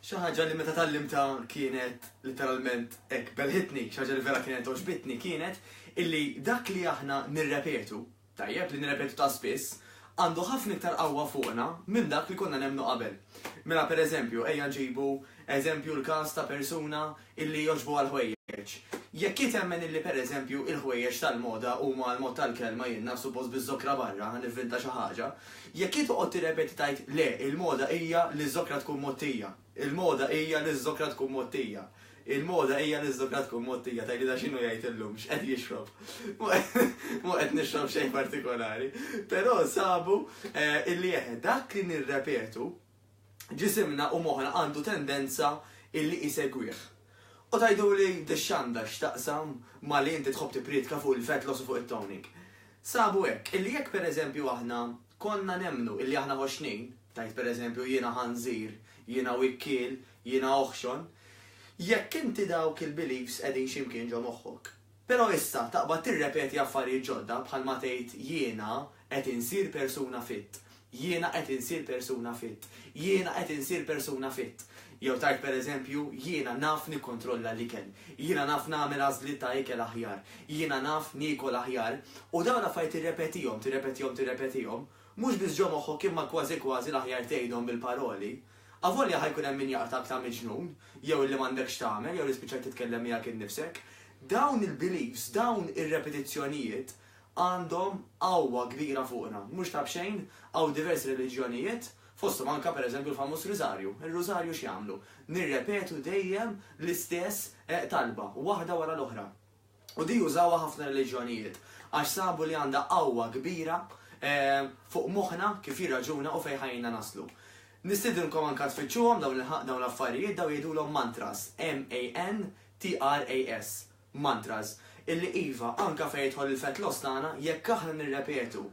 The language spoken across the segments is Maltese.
Xi ħaġa li meta tallimta kienet literalment hekk belħitni, xi ħaġa li vera kienet oġbitni kienet illi dak li aħna nirrepetu, tajjeb li nirrepetu ta' spiss, għandu ħafna iktar qawwa fuqna minn dak li konna nemmnu qabel. Mela pereżempju, ejja nġibu eżempju l-każ ta' persuna illi jogħġbu għall-ħwejjeġ. Jekk hi temmen illi pereżempju il-ħwejjeġ tal-moda huma għall-mod tal-kelma jinnha suppost biż-żokra barra nivvinta xi ħaġa, jekk hi toqgħod tirrepeti tgħid le il-moda hija li ż-żokra tkun mgħottija, il-moda hija li ż-żokra tkun mgħottija, il-moda hija li ż-żokra tkun mgħottija tgħidilha x'inhu jgħid illum, x'qed jixrob. Mhu qed nixrob xejn partikolari. Però sabu illi eħe dak li nirrepetu ġisimna u moħħna għandu tendenza illi isegwih. U tgħiduli dix-xanda x'taqsam ma' li inti tħobb tippriedka fuq il-fat loss u fuq it-toning? Sabu hekk, illi jekk per eżempju aħna konna nemmnu illi aħna ħoxnin, tgħid per eżempju jiena ħanżir, jiena wikkiel, jiena oħxon, jekk inti dawk il-beliefs qegħdin xi mkien ġo moħħok, Però issa taqbad tirrepeti affarijiet ġodda bħalma tgħid jiena qed insir persuna fit, jiena qed insir persuna fit, jiena qed insir persuna fit. Jew tgħid pereżempju jiena naf nikkontrolla l-ikel, jiena naf nagħmel għażliet ta' ikel aħjar, jiena naf niekol aħjar, u dawn l-affarijiet tirrepetihom, tirrepetihom, tirrepetihom, mhux biss ġo moħħok imma kważi kważi l-aħjar tgħidhom bil-paroli. Avolja ħa jkun hemm min jaqratak ta' miġnun, jew illi m'għandek x'tagħmel, jew li spiċċajt titkellem miegħek innifsek, dawn il-beliefs, dawn ir-repetizzjonijiet għandhom qawwa kbira fuqna. Mhux ta' b'xejn, hawn diversi reliġjonijiet, fosthom anke per eżempju l-famuż Riżarju. Ir-Rużarju x'jagħmlu? Nirrepetu dejjem l-istess talba, waħda wara l-oħra. U din użawha ħafna reliġjonijiet għax sabu li għandha qawwa kbira fuq moħħna kif jirraġuna u fejn ħajjina naslu. Nistiedinkom anke tfittxuhom dawn dawn l-affarijiet dawn jgħidulhom mantras, M-A-N-T-R-A-S, mantras, illi iva, anke fejn jidħol il-fett loss tagħna, jekk aħna nirrepetu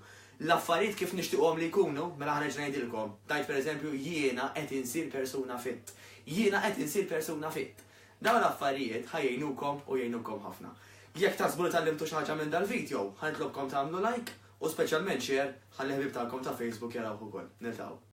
l-affarijiet kif nixtiequhom li jkunu, mela ħanerġa' ngħidilkom, tgħid pereżempju jiena qed insir persuna fit. Jiena qed insir persuna fit. Dawn l-affarijiet ħa jgħinukom u jgħinukom ħafna. Jekk taħsbu li tgħallimtu xi ħaġa minn dal-vidjow, ħa nitlobkom tagħmlu like u speċjalment share ħalli ħbieb tagħkom ta' Facebook jarawh ukoll. Niltaqgħu.